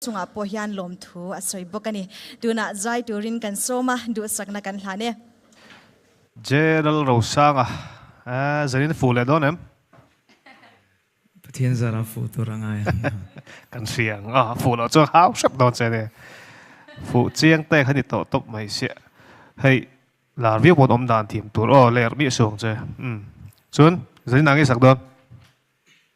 chungah pawh hian lawmthu a sawi bawk a ni. Tunah zai turin kan sawm a, duhsakna kan hlan e. Jeral Rosanga, Aaa, Zenin fuh leh dawn em? Pathian zarah fuh tur a ngai ang a. Kan hria ang a, fuh loh chuan hau hrep dawn che nia. Fuh chiang te kha ni tawh tawp mai sia. Hei, lar viau pawn awm dan thiam tur aw, ler miah suang che. Umm. Chuan, Zenin a ngai sak dawn?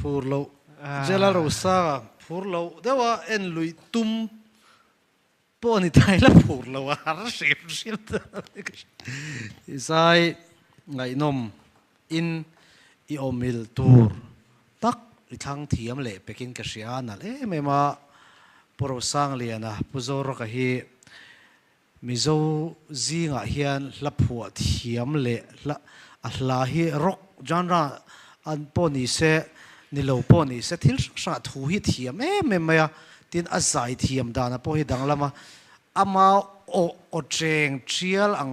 Phur loh Jela Rosa phur loh deuh a en lui tum pawh a ni ta ila phur loh a har hrim hrim ta hi ka hre i zai ngaihnawm in i awmhil tur tak i thlang thiam leh pek in ka hria a nalh em em a Pu Rosangliana Pu Zawraka hi Mizo zingah hian hla phuah thiam leh hla a hla hi rock genre a pawh ni se ni lo pawh ni se thil hrang hrangah thu hi thiam em em mai a, tin a zai thiam dana pawh hi danglam a, ama aw aw cheng thial ang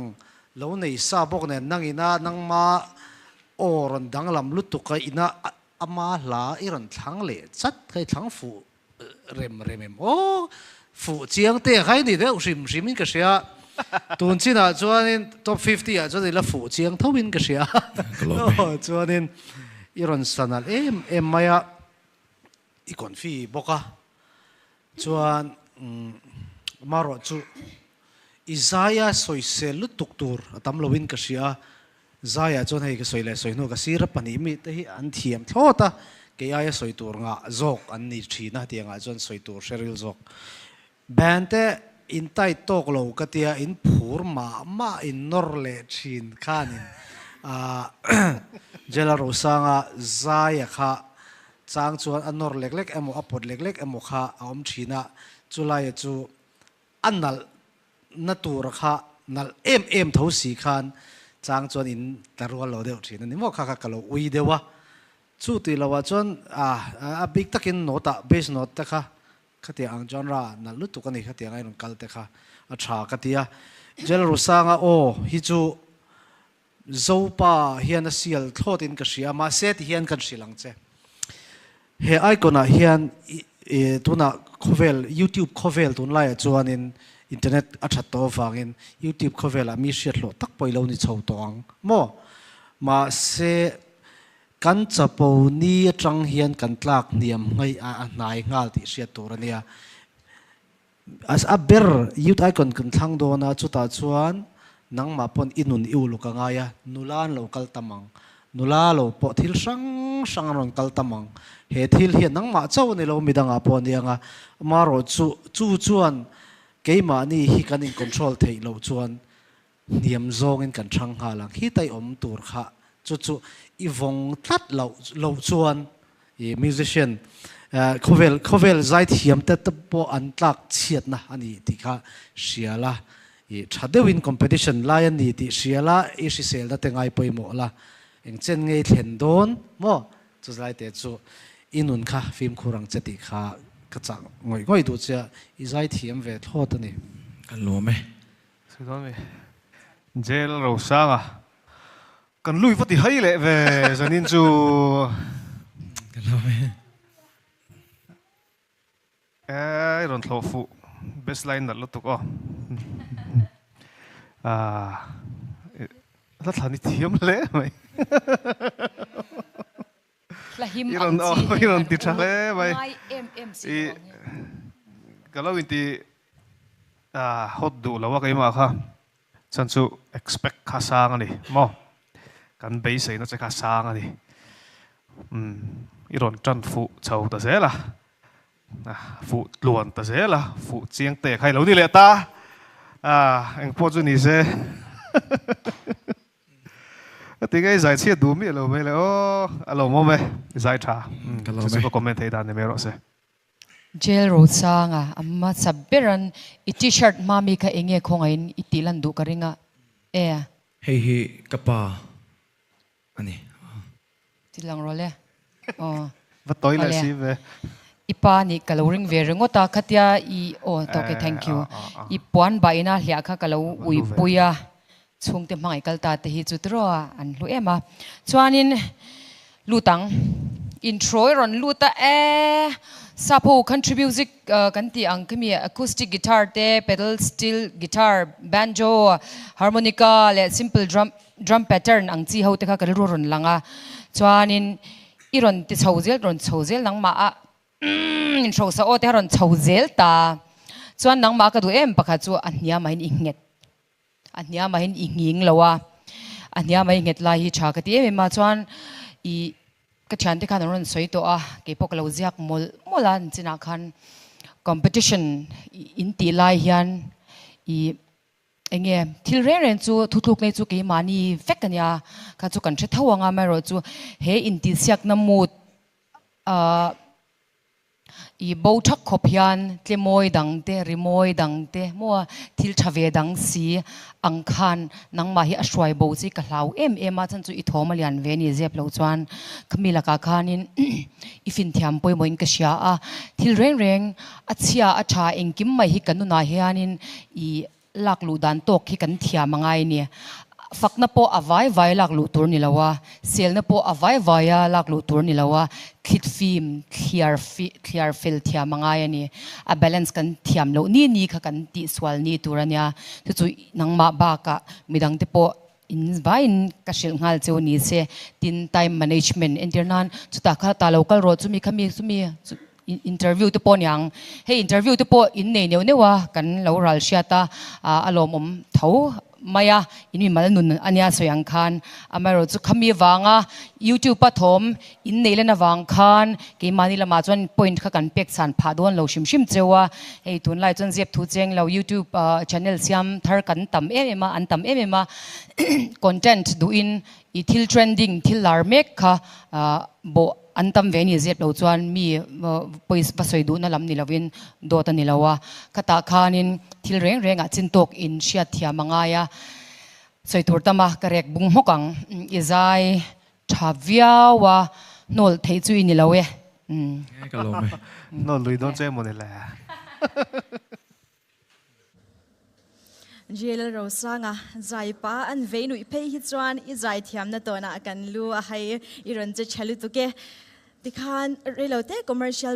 lo nei sa bawk nen nang ina nangma aw rawn danglam lutuk a ina ama hla i rawn thlang leh chat kha i thlang fuh rem rem em aw fuh chiang te khai ni deuh hrim hrim in ka hria tun chin ah chuan in top fifty ah chuan ila fuh chiang tho in ka hria aw chuan in i rawn san alh em em mai a i kawn fi bawk a chuan marawh chu i zai a sawi sel lutuk tur a tam lo in ka hria. Zaia chuan hei ka sawi leh sawi hnu ka sir a pahnih mi te hi an thiam thlawt a, kei aia sawi tur ngah zawk an ni thin a tiangah chuan sawi tur hre ril zawk. Ban te in tight tawk lo ka tia in phur mah mah in nawr leh thin khanin Jela Rosanga Zaia kha chang chuan a nawr lek lek emaw a pawt lek lek emaw kha a awm thin a, chu laia chu A nalh na tur kha nalh em em tho si khan chang chuan in tla rual lo deuh thin a ni maw kha kha ka lo ui deuh a, chu tih lo ah chuan a bik tak in note ah bass note te kha khatiang ang genre ah nalh lutuk a ni kha tiang a i rawn kal te kha a tha ka ti a Jel Rusanga aw hi chu Zopa hian a sial thlawt in ka hria, mahse ti hian kan hrilh ang che. He icon ah hian tunah khawvel youtube khawvel tun lai ah chuanin internet a that tawh avangin youtube khawvel ah mi hriathlawh tak pawh i lo ni chho tawh ang maw? Mahse kan chapo ni atang hian kan tlak hniam hngei a a hnai nghal tih hriat tur a nia. A ber youth icon kan thlang dawn a, chutah chuan nangmah pawn i nun i uluk a ngai a, nula an lo kal tam ang, nula lo pawh thil hrang hrang an rawn kal tam ang, he thil hian nangmah chauh a ni lo midang ah pawh a ni ang a, amarawhchu chu chuan keimahni hi kan in control theih loh chuan Hniam zawngin kan ṭhang nghal ang. Hi tai awm tur kha chu chu i vawng tlat loh loh chuan i musician khawvel khawvel zai thiamte te pawh an tlak chhiatna a ni tih kha hria la. I ṭha deuhin competition lai a ni tih hria la, i hrisel na te ngai pawimawh la, eng chen ngei thlen dawn maw? Chu zai te chu i nun kha fimkhur ang che tih kha ka chah ngawih ngawih duh che a, i zai thiam ve thlawt a ni. Ka lawm e. Sawidawn mi Jail Rosanga kan lui vati hai leh ve zanin chu ka hlau mai a. Ai rawn thlawh fuh best line nalh lutuk aw a hla thla ni thiam hle mai. I rawn aw i rawn ti tha hle mai i ka lo inti a hot duh lo a keimah kha chuan chu expect kha sang a ni maw kan beiseina che kha sang a ni umm i rawn tan fuh chho ta zel a a fuh tluan ta zel a fuh chiang te kha i lo ni leh ta a engpawh chu nise. A ti nge zai chhiat duh miah lo mai le aw a lo mawm e zai tha chu chu ka comment thei dan ni mai rawh se. Jail Rosanga a hmasa beran i T-shirt hma mi kha enge khawngaih in i tih lan duh ka ring a e. Hei hi ka pa a ni. Ti lang rawh le. Aw. Va tawi leh si ve. I pa nih ka lo ring ve ringawt a, khatia i aw ta ok thank you. I puan bah ina hliah kha ka lo uipui a, chhungte hmangaih kal ta te hi chu tirawa an hlu em a. Chuanin lut ang, intro i rawn lut a e, Sapo country music kan tih ang kha mi, acoustic guitar te, pedal steel guitar, banjo, harmonica leh simple drum, Drum pattern ang chi ho te kha ka rilru rawn lang a, chuanin i rawn ti chho zel, rawn chho zel nangmah a umm in hrosa aw te kha rawn chho zel ta a, chuan nangmah ka duh em pakhat chu a hnia mahin i nghet, a hnia mahin i nghing lo a, a hnia mai nghet lai hi tha ka ti em em a, chuan ih ka thiante khan an rawn sawi tawh a, kei pawh ka lo ziak mawlh mawlh a, an chinah khan competition in tih lai hian ih. Eng nge? Thil reng reng chu thutluk nei chu keimahni vek a nia, kha chu kan hre tho ang a, amaherawh chu he intihsiakna mood ah i bo thak khawp hian tlemawi dang te, rimawi dang te maw a, thil tha ve dang si ang khan nangmah hi a hruai bo chi ka hlau em em a, chan chu i thawm a lian ve ni zep lo chuan ka mi lakah khanin i finthiam pawimawhin ka hria a, thil reng reng. A chhia a tha engkim mai hi ka nunah hianin i lak luh dan tawk hi kan thiam a ngai ni. Fakna pawh a vai vai lak luh tur ni lo a, selna pawh a vai vai a lak luh tur ni lo a, thlit fim thliar thliar fel thiam a ngai a ni. A balance kan thiam loh ni ni kha kan tih sual ni tur a nia. Chu chu nangmah bakah midang te pawh In vain ka hrilh nghal che u ni se, tin time management entir nan chutah kha ta lo kal rawh chu mi kha mi chumi interview te pawh a niang hei interview te pawh in nei neuh neuh a kan lo ral hriat a a lawmawm tho mai a in mimal nun ania sawi ang khan amaherawhchu khami vanga youtube a thawm In neih len avang khan keimahni lamah chuan point kha kan pek chhan phah dawn lo hrim hrim cheu a, hei tunlai chuan ziak thu cheng lo youtube channel siam thar kan tam em em a, an tam em em a content duh in i thil trending thil lar mek kha bawh an tam ve ni zep lo chuan mi pawi va sawi duhna lam ni lo in dawt a ni lo a, khatah khan in thil reng reng ah chin tawk in hriat thiam a ngai a, sawi tur tam a ka rek bung hmawk ang i zai. Tha viau a hnawlh theih chu i ni lo e. Nge ka lawm e. Hnawlh lui dawn chu emaw ni le. Ril Rosanga, Zai pa an vei nuih phei hi chuan i zai thiamna tawnah kan lu a hai i rawn che tha lutuk e. Tikhan rei lo teh commercial.